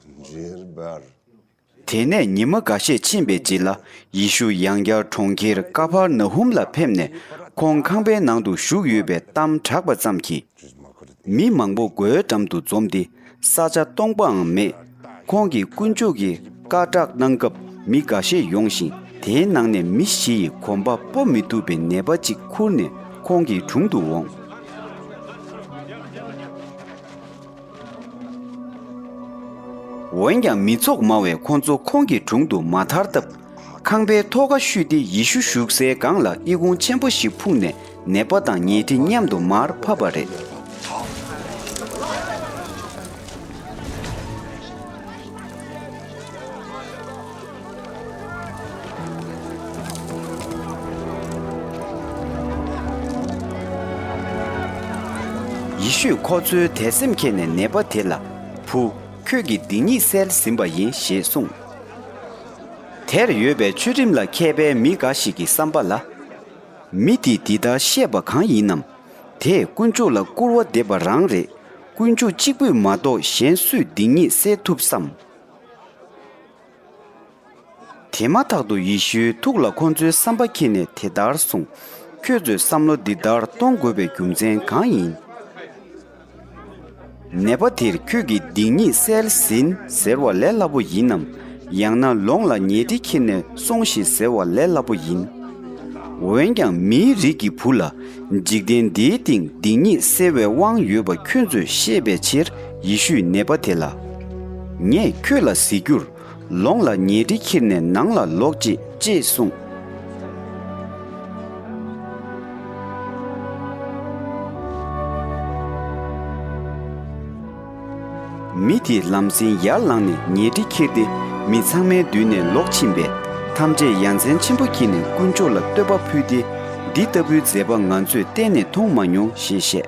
འདྲེར་འབར། དེ་ནས་ཉི་མ་འགའ་ཤས་ཕྱིན་པའི་རྗེས་ལ་ཡེ་ཤུ་ཡང་བསྐྱར་གྲོང་ཁྱེར་ཀ་ཕར་ན་ཧུམ་ལ་ཕེབས་ནས་ཁོང་ཁང་པའི་ནང་དུ་བཞུགས་ཡོད་པའི་གཏམ་གྲགས་པ་ཙམ་གྱིས། མི་མང་པོ་སྒོའི་འགྲམ་དུ་འཛོམས་ཏེ་ས་ཆ་སྟོང་པའང་མེད། ཁོང་གིས་དཀོན་མཆོག་གི་བཀའ་བསྒྲགས་གནང་སྐབས་མི་འགའ་ཤས་ཡོང་ཞིང་དེའི་ནང་ནས་མི་བཞི་ཡིས་གོམ་པ་སྤོ་མི་ཐུབ་པའི་ནད་པ་ཅིག་ཁུར་ནས་ཁོང་གི་དྲུང་དུ་འོངས། འོན་ཀྱང་མི་ཚོགས་མང་བས་ཁོ་ཚོ་ཁོང་གི་དྲུང་དུ་མ་ཐར་སྟབས། ཁང་པའི་ཐོག་ཁ་བཤུས་ཏེ་ཡེ་ཤུ་བཞུགས་སའི་སྒང་ལ་ཨི་ཁུང་ཆེན་པོ་ཞིག་ཕུག་ནས་ནད་པ་དང་ཉལ་ཁྲི་མཉམ་དུ་མར་ཕབ་པ་རེད། ཡེ་ཤུས་ཁོ་ཚོའི་དད་སེམས་མཁྱེན་ནས་ནད་པ་དེ་ལ། བུ། ཁྱོད་ཀྱི་སྡིག་ཉེས་སེལ་ཟིན་པ་ཡིན་ཞེས་གསུངས། དེར་ཡོད་པའི་ཆོས་ཁྲིམས་ལ་མཁས་པའི་མི་འགའ་ཞིག་གི་བསམ་པ་ལ། མི་དེས་འདི་ལྟར་བཤད་པ་གང་ཡིན་ནམ། དེས་དཀོན་མཆོག་ལ་སྐུར་བ་འདེབས་པ་རང་རེད། དཀོན་མཆོག་གཅིག་པུས་མ་གཏོགས་གཞན་སུས་སྡིག་ཉེས་སེལ་ཐུབ་བསམ། དེ་མ་ཐག་ཏུ་ཡེ་ཤུའི་ཐུགས་ལ་ཁོ་ཚོའི་བསམ་པ་འཁྱེར་ནས་དེ་ལྟར་གསུངས། ཁྱོད་ཚོས་བསམ་བློ་འདི་ལྟར་གཏོང་དགོས་པའི་རྒྱུ་མཚན་གང་ཡིན། ནད་པ་དེར་ཁྱོད་ཀྱིས་སྡིག་ཉེས་བསལ་ཟིན་ཟེར་བ་ལས་སླ་པོ་ཡིན་ནམ། ཡང་ན་ལོངས་ལ་ཉལ་ཁྲི་འཁྱེར་ནས་སོང་ཞིག་ཟེར་བ་ལས་སླ་པོ་ཡིན། འོན་ཀྱང་མིའི་རིགས་ཀྱི་བུ་ལ་འཇིག་རྟེན་འདིའི་སྟེང་སྡིག་ཉེས་སེལ་བའི་དབང་ཡོད་པ་ཁྱོད་ཚོས་ཤེས་པའི་ཕྱིར། ཡེ་ཤུས་ནད་པ་དེ་ལ། ངས་ཁྱོད་ལ་གཟིགས་རྒྱུར་ལོངས་ལ་ཉལ་ཁྲི་འཁྱེར་ནས་ནང་ལ་ལོག་ཅིག་ཅེས་གསུངས། མི་དེས་ལམ་སེང་ཡར་ལངས་ནས་ཉལ་ཁྲི་འཁྱེར་ཏེ་མི་ཚང་མའི་མདུན་ནས་ལོག་ཕྱིན་པས་ཐམས་ཅད་ཡ་མཚན་ཆེན་པོ་སྐྱེས་ནས་དཀོན་མཆོག་ལ་བསྟོད་པ་ཕུལ་ཏེ་འདི་ལྟ་བུའི་མཛད་པ་ང་ཚོས་གཏན་ནས་མཐོང་མ་མྱོང་ཞེས་བཤད།